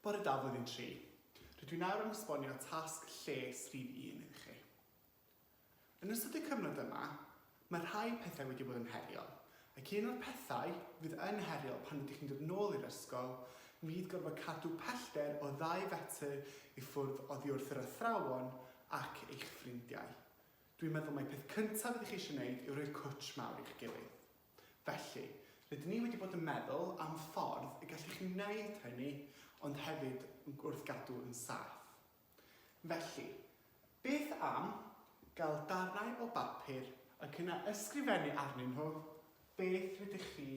Bore da Flwyddyn Tri. Rydw i nawr yn esbonio tasg lles rhif un iddo chi. Yn ystod y cyfnod yma, mae rhai pethau wedi bod yn heriol, ac un o'r pethau fydd yn heriol pan ydych chi'n dod nôl i'r ysgol fydd gorfod cadw pellter o ddau fetr i ffwrdd oddi wrth yr athrawon ac eich ffrindiau. Dwi'n meddwl mai peth cyntaf ydych chi eisiau wneud yw rhoi'r cwtsh mawr i'ch gilydd. Felly, rydyn ni wedi bod yn meddwl am ffordd y gallwch chi wneud hynny ond hefyd wrth gadw yn saff. Felly, beth am gael darnau o bapur ac yna ysgrifennu arnyn nhw beth rydych chi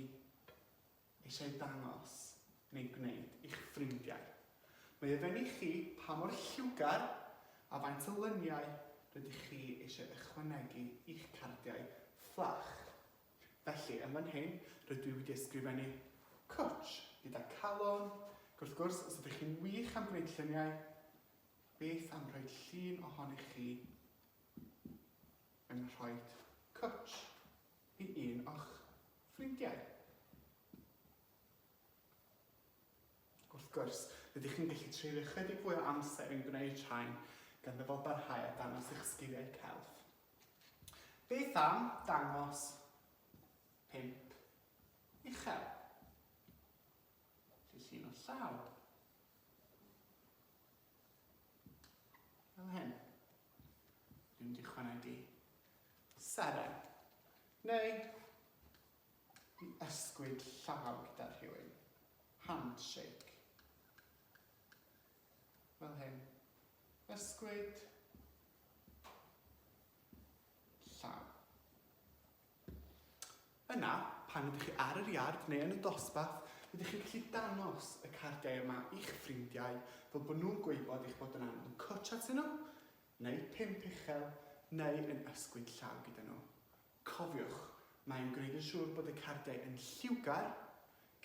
eisiau dangos neu gwneud i'ch ffrindiau. Mae ofyn i chi pa mor lliwgar a faint o lyniau rydych chi eisiau ychwanegu i'ch cardiau fflach. Felly, yn fan hyn, rydw i wedi ysgrifennu cwtsh gyda calon, ac wrth gwrs, os ydych chi'n wych am gwneud lluniau, beth am rhoi llun ohonych chi yn rhoed cwtsh. Hi un o'ch ffrindiau? Wrth gwrs, rydych chi'n gallu treulio ychydig fwy o amser yn gwneud rhain gan ddyfalbarhau a dangos eich sgiliau celf. Beth am dangos pump uchel? Llyllun o llaw. Fel hyn. Dwi'n mynd i chwanegu seren, neu i ysgwyd llaw gyda rhywun. Handshake. Fel hyn. Ysgwyd. llaw. Yna, pan ydych chi ar yr iard neu yn y dosbarth, rydych chi'n gallu dangos y cardiau yma i'ch ffrindiau fel bod nhw'n gwybod eich bod yn angen nhw cwtsh atyn nhw, neu pump uchel, neu yn ysgwyd llaw gyda nhw. Cofiwch, mae'n gwneud yn siŵr bod y cardiau yn lliwgar,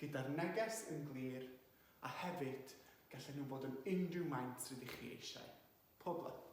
gyda'r neges yn glir, a hefyd, gallen nhw fod yn unrhyw maint rydych chi eisiau. Pob lwc!